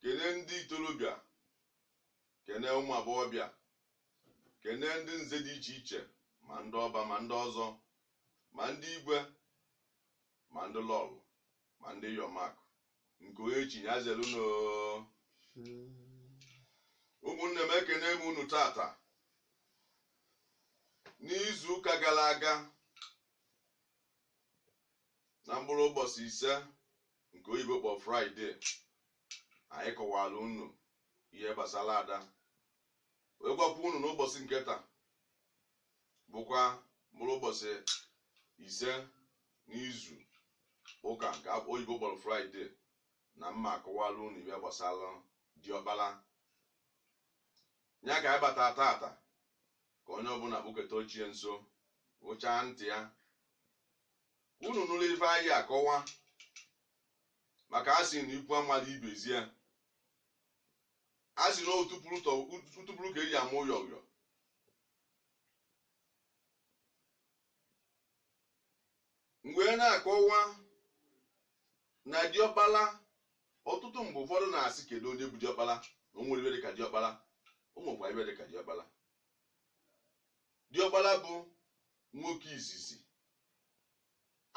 kene ndị ikorobịa kene ụmụ agbọghọbịa kene ndị nze dị iche iche ma ndị ọba ma ndị ọzọ ma ndị igwe ma ndị lọlọ ma ndị iyom nke onye chi nya zelu nnọọ ụmụnne m ekene m unu tata n'izu ụka gara aga na mkpụrụ ụbọchị ise nke oyibo kpọ friday anyị kọwara unu ihe gbasara ada wee gwakwa unu n'ụbọchị nke taa bụkwa mkpụrụ ụbọchị ise n'izu ụka nke oyibo kpọrọ friday na m ma-akọwara unu ihe gbasara diọkpala ya ka anyị bata tata ka onye ọbụla kpụketa oche nso wụchaa ntị ya unu nụrụ ife anyị akọwa maka a sị na ikwu amala ibe ezi ya a sị na otupụrụ tọ- utupụrụ ka eji ama ụyọ ụyọ mgbe na-akọwa na diọkpala ọtụtụ mgbe ụfọdụ na-asị kedu onye bụ diọkpala na o nwere ife dịka diọkpala o nwekwa ife dịka diọkpala diọkpala bụ nwoke izizi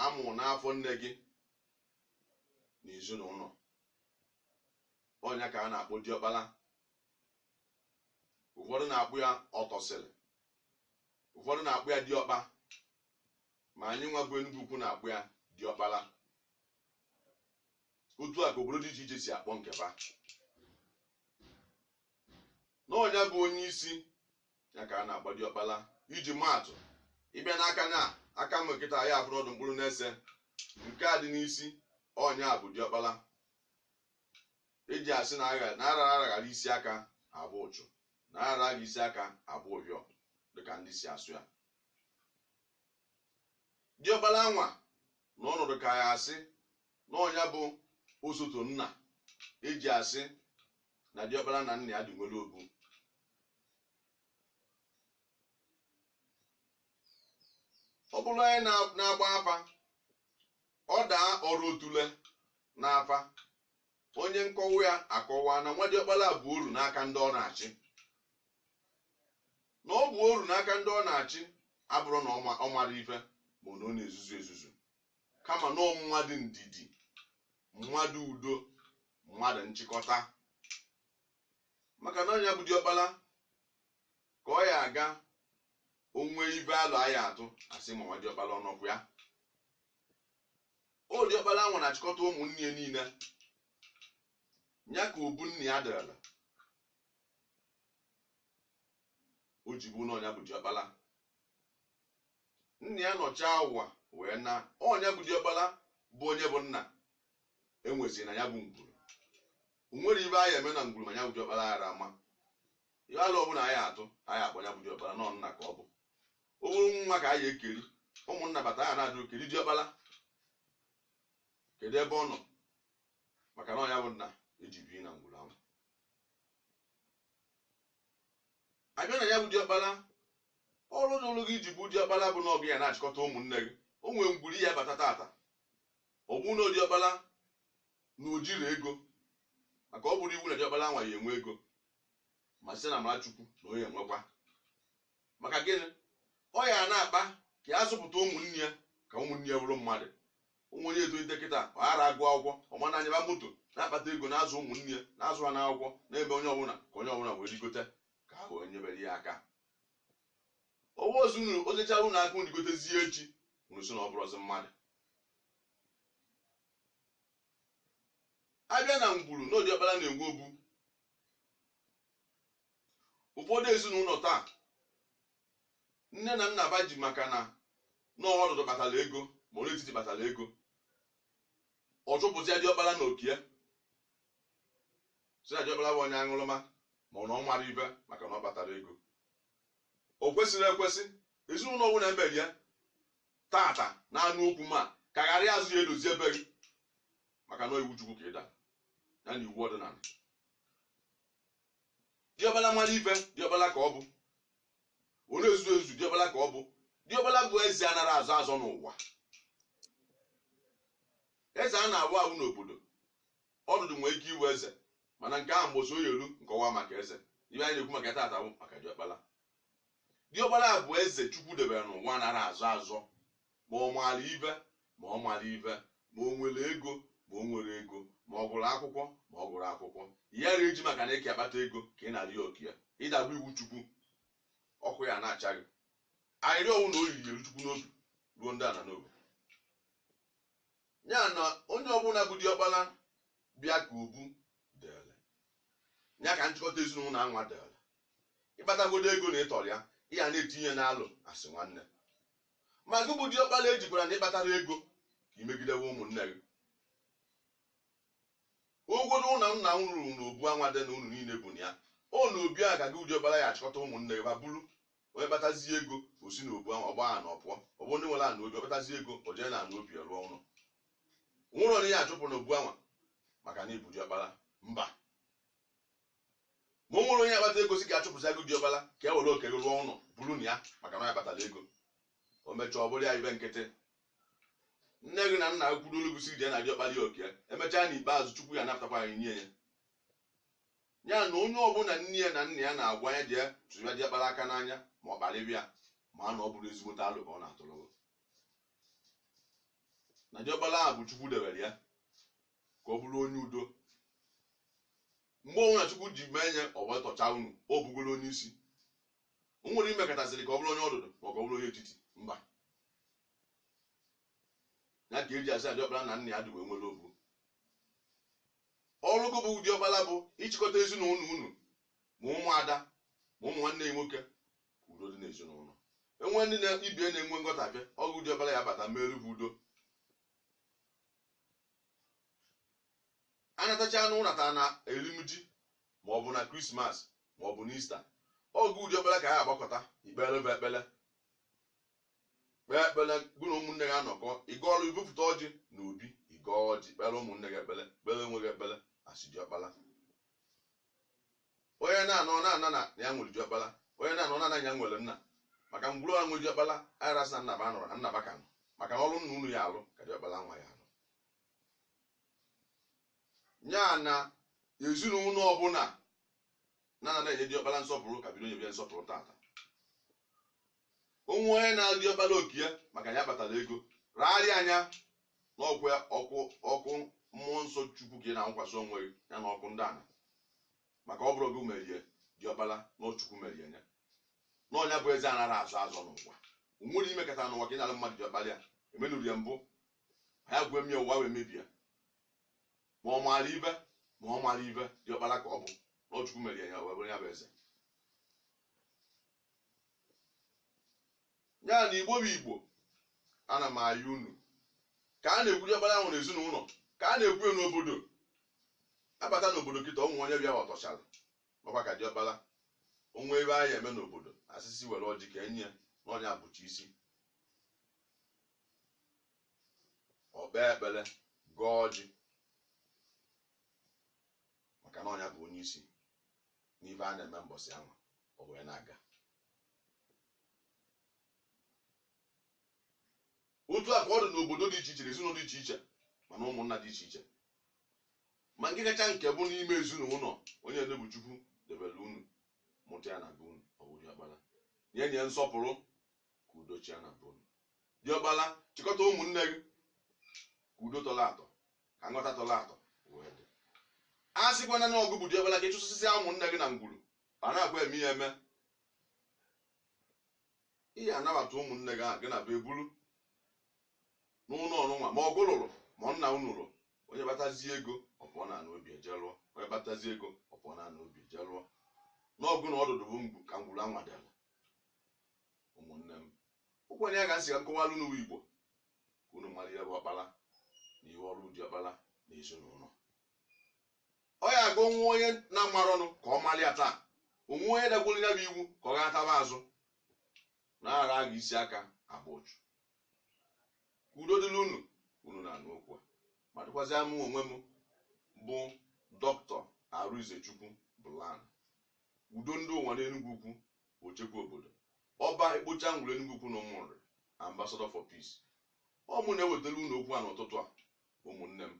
a mụ n'afọ nne gị na ezinụlọ ọ nya ka a na-akpọ diọkpala ụfọdụ na-akpọ ya ọtọsịrị ụfọdụ na-akpọ ya diọkpa ma anyị nwa bụ Enugwu Ukwu na-akpọ ya diọkpala otu a ka obodo dị iche iche si akpọ nke fa na ọ nya bụ onye isi ya ka a na-akpọ diọkpala iji maatụ ị bịa n'aka na aka m kịta ya abụrụ ọ dụ mkpụrụ n'ise nke a dị n'isi ọ nya bụ diọkpala eji asị na agha na ara aghara isi aka agba ụchụ na ara agha isi aka agba ụhịọ dịka ndị si asụ ya diọkpala nwa na ọnọdụ ka ya asị na ọ nya bụ osote nna eji asị na diọkpala na nna ya dị nwere obu ọ bụrụ anyị na- na-agba afa ọ daa ọrụ otule n'afa onye nkọwa ya akọwa na nwa diọkpala bụ oru n'aka ndị ọ na-achị na ọ bụ oru n'aka ndị ọ na-achị abụrọ na ọ ma- ọ mara ife ma ọ na ọ na-ezuzu ezuzu kama na ọ mmadụ ndidi mmadụ udo mmadụ nchịkọta maka na ọ nya bụ diọkpala ka ọ ya aga o nwe ibe alo a ya-atụ a sị ma nwa diọkpala ọ nọkwa ya ọ diọkpala nwa na-achịkọta ụmụnne ya niile ya ka obu nna ya dịrịla o ji bụ na ọ nya bụ diọkpala nna ya nọchaa ụwa wee naa ọ nya bụ diọkpala bụ onye bụ nna e nwezi na ya bụ ngwuru o nwere ibe a ya-eme na ngwuru ma ya bụ diọkpala aghara ama ihe alo ọbụla a ya-atụ a ya-akpọ ya bụ diọkpala na ọ nna ka ọ bụ o nwere nwa ka anyị ekeri ụmụnna bata ha na-ajụ kedu diọkpala kedu ebe ọ nọ maka na ọ nya bụ nna e ji bi na ngwuru ahụ a bịa na ya bụ diọkpala ọrụ dịlụ gị i ji bụ diọkpala bụ na ọ gị ya na-achịkọta ụmụnne gị o nwere ngwuru ị ya-abata tata ọ bụ na diọkpala na o jirọ ego maka ọ bụrọ iwu na diọkpala nwa ya-enwe ego ma site na amara Chukwu na ọ ya-enwekwa maka gịnị ọ ya na-akpa ka ya zụpụta ụmụnne ya ka ụmụnne ya bụrụ mmadụ ụmụ onye etolite kịta ọ ghara agụ akwụkwọ ọ mana anyaba moto na-akpata ego na-azụ ụmụnne ya na-azụ ha n'akwụkwọ na-eme onye ọbụla ka onye ọbụla wee rigote ka ha wee nyebere ya aka ọwa ozi unu o nyechara unu aka unu rigotezie echi unu sị na ọ bụrọzi mmadụ a bịa na ngwuru na ọ diọkpala na-enwe obu ụfọdụ ezinụlọ taa nne na nna ba ji maka na nwa ọdụdụ kpatara ego ma onye etiti kpatara ego ọ chụpụzia diọkpala na okie sị na diọkpala bụ onye aṅụrụma ma ọ na ọ mara ibe maka na ọ kpatara ego o kwesịrị ekwesị ezinụlọ ọbụna e mere ya tata na-anụ okwu m a ka gharịa azụ ya edozie be gị maka na iwu Chukwu ka ị dara ya na iwu ọdịnala diọkpala mara ibe diọkpala ka ọ bụ ọ na-ezu ezu diọkpala ka ọ bụ diọkpala bụ eze anara azọ azọ n'ụwa eze a na-awọ awọ n'obodo ọdụdụ nwee ike iwe eze mana nke ahụ mbọsị ọ ya-elu m kọwaa maka eze ibe anyị na-ekwu maka tata bụ maka diọkpala diọkpala bụ eze Chukwu debere n'ụwa anara azọ azọ Ma ọ maara ibe ma ọ maghị ibe, ma o nwere ego ma o nweghị ego, ma ọ gụrụ akwụkwọ ma ọ gụghị akwụkwọ, ị yara eji maka na ị ka akpata ego ka ị nara oke ya. Ị dago iwu Chukwu, ọkụ ya na-acha gị. Arịrịọ ọ wụ na ọ ya-eru Chukwu n'obi ruo ndị ana n'obi. Ya na onye ọbụla bụ diọkpala bịa ka obu dịrị. Ya ka nchịkọta ezinụlọ anwa dịrị. Ị kpatagodo ego na ị tọrọ ya, ị ya na-etinye n'alo a sị nwanne. ma gị bụ diọkpala ejikwara na ị kpatara ego ka i megidewe ụmụnne gị ụgwọ na ụlọ nna m rụrụ n'obu anwa dị na unu niile bi na ya ọ na obi a ka gị bụ diọkpala ya achịkọta ụmụnne gị ma bụrụ onye kpatazie ego o si n'obu ahụ ọgba ha na ọ pụọ ọ bụ ndị nwere ana obi ọ kpatazie ego o jee na ana obi rụọ ụlọ o nwerọ onye ya achụpụ n'obu anwa maka na ị bụ diọkpala mba ma o nwere onye akpata ego sị ka a chụpụsịa gụ diọkpala ka e were oke gị rụọ ụlọ biri na ya maka na ya kpatara ego o mechaa ọ bụrụ ya ife nkịtị nne gị na nna gị kwuru olu gụ sị jee na diọkpala ya oke e mechaa na ikpeazụ chukwu ya anapụtakwa anyị nye ya ya na onye ọbụla nne ya na nna ya na-agwa ya jee tụrụ ya diọkpala aka n'anya ma ọ kparịba ya ma na ọ bụrọ ezigbote alo ka ọ na-atụrụ gị na diọkpala ahụ bụ chukwu debere ya ka ọ bụrụ onye udo mgbe ọbụla chukwu ji mee onye ọ wee tọchaa unu ọ bụgoro onye isi o nwerọ i mekatasịrị ka ọ bụrụ onye ọdụdụ ma ọ ka ọ bụrụ onye etiti mba ya ka e ji asị na diọkpala na nna ya dị wee nwere obu ọrụ gị bụ diọkpala bụ ịchịkọta ezinụlọ unu ma ụmụada ma ụmụ nwanne ya nwoke ka udo dị n'ezinụlọ e nwee ndị na ibe ya na-enwe nghọtafie ọ gụ diọkpala ya abata meerụ fa udo a natachaanụ ụnata na erimji ma ọ bụ na krismas ma ọ bụ na ista ọ gụ diọkpala ka a ya agbakọta i kpeere fa ekpele kpee ekpele gụ na ụmụnne gị anọkọ ị gọọrụ i bupụta ọjị na obi ị gọọ ọjị kpeere ụmụnne gị ekpele kpeere onwe gị ekpele a sị diọkpala onye na-anọ ọ na-ana na ya nwere diọkpala onye na-anọ ọ na-ana ya nwere nna maka ngwuru e nwe diọkpala anara asị na nna fa anọrọ na nna fa ka nọ maka na ọrụ nna unu ya alụ ka diọkpala nwa ya alụ ya na ezinụlọ ọbụla na-ana enye diọkpala nsọpụrụ ka bido nyebe ya nsọpụrụ tata o nwee onye nalụ diọkpala oke ya maka ya kpatara ego rarịa anya na ọ ọkụ mmụọ nsọ chukwu ka ị na-anwụkwasị onwe gị ya na ọkụ ndị ana maka ọ bụrọ gị mere ya diọkpala na ọ chukwu mere ya na ọ nya bụ eze anara azọ azọ n'ụwa o nwerọ i mekata n'ụwa ka ị nalụ mmadụ diọkpala ya e meenụrụ ya mbụ ha ya gwee m ya ụwa wee mebie ma ọ maara ife ma ọ marọ ife diọkpala ka ọ bụ na ọ chukwu mere ya wee bụrụ ya bụ eze ya na igbo bụ igbo ana m ayọ unu ka a na-ekwu diọkpala ahụ n'ezinụlọ ka a na-ekwu ya n'obodo a bata n'obodo kịta o nwee onye bịa ọ tọchara nọkwa ka diọkpala o nwee ife a ya eme n'obodo a sị sị were ọjị ka e nye ya na ọ nya bụcha isi o kpee ekpele gọọ ọjị maka na ọ nya bụ onye isi n'ife a na-eme mbọsị ahụ o wee na-aga otu a ka ọ dị n'obodo dị iche iche na ezinụlọ dị iche iche ma n'ụmụnna dị iche iche ma nke kacha nke bụ n'ime ezinụlọ onye nna bụ chukwu debere unu mụta ya na be unu ọ bụ diọkpala nye ya nsọpụrụ ka udo chịa na be unu diọkpala chịkọta ụmụnne gị ka udo tọrọ atọ ka nghọta tọrọ atọ wee dị asịkwana na ọ gị bụ diọkpara ka ị chụsasị ụmụnne gị na ngwuru anakwa eme ya eme ị ya-anabata ụmụnne gị ahụ gị na be eburu n'ụlọ nụnwa ma ọ gị lụrụ ma ọ nna unu lụrụ onye kpatazie ego ọ pụọ na ana obi eje lụọ onye kpatazie ego ọ pụọ na ana obi eje lụọ na ọ gị na ọdụdụ bụ mgbu ka ngwuru a nwa dala ụmụnne m ọ kwanụ ya ka m sị ka m kọwalụ n'ụwa igbo ka unu mara ihe bụ ọkpara na ihe ọrụ diọkpara na ezinụlọ ọ ya ka o nwee onye na-amarọnụ ka ọ mara ya taa o nwee onye dakwuru ya bụ iwu ka ọ gataba azụ na ara agha isi aka agba ụchụ ka udo dịrị unu unu na-anụ okwu a ma dịkwazịa mụ onwe m bụ doctor Arịnzechukwu Blan udo ndị ụwa n'Enugwu ukwu Ochekwa Obodo, Oba Ekpocha Ngwulu Enugwu Ukwu na Ụmụnri, Ambassador for Peace. Ọ mụ na-ewetara unu okwu a n'ụtụtụ a, ụmụnne m.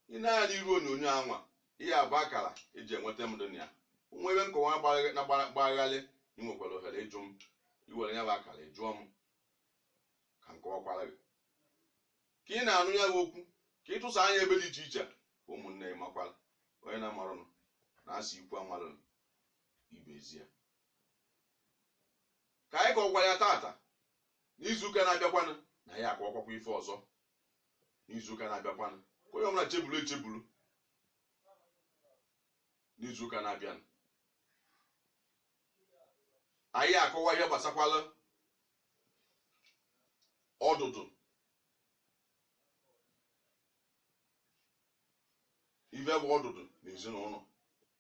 I nee anya n'iru onyonyo a nwa, ya bụ akara e ji enweta m dị na ya. O nwee ebe nkọwa na-agbagharị, ị nwekwara ohere ịjụ m, i were ya bụ akara ị jụọ m ka m kọwakwara gị. Ka ị na-anụ ya bụ okwu, ka ị tụsaa ya ebe dị iche iche, ụmụnne ị makwara onye na-amarọnụ na a sị ikwu amarọnụ ibe ezi ya ka anyị kọkwa ya tata n'izuụka na-abịakwanụ na anyị akọwakwakwa ife ọzọ n'izuụka na-abịakwanụ ka onye ọbụla chebulu echebulu n'izuụka na-abịanụ anyị akọwa ihe gbasakwala ọdụdụ ife bụ ọdụdụ na ezinụlọ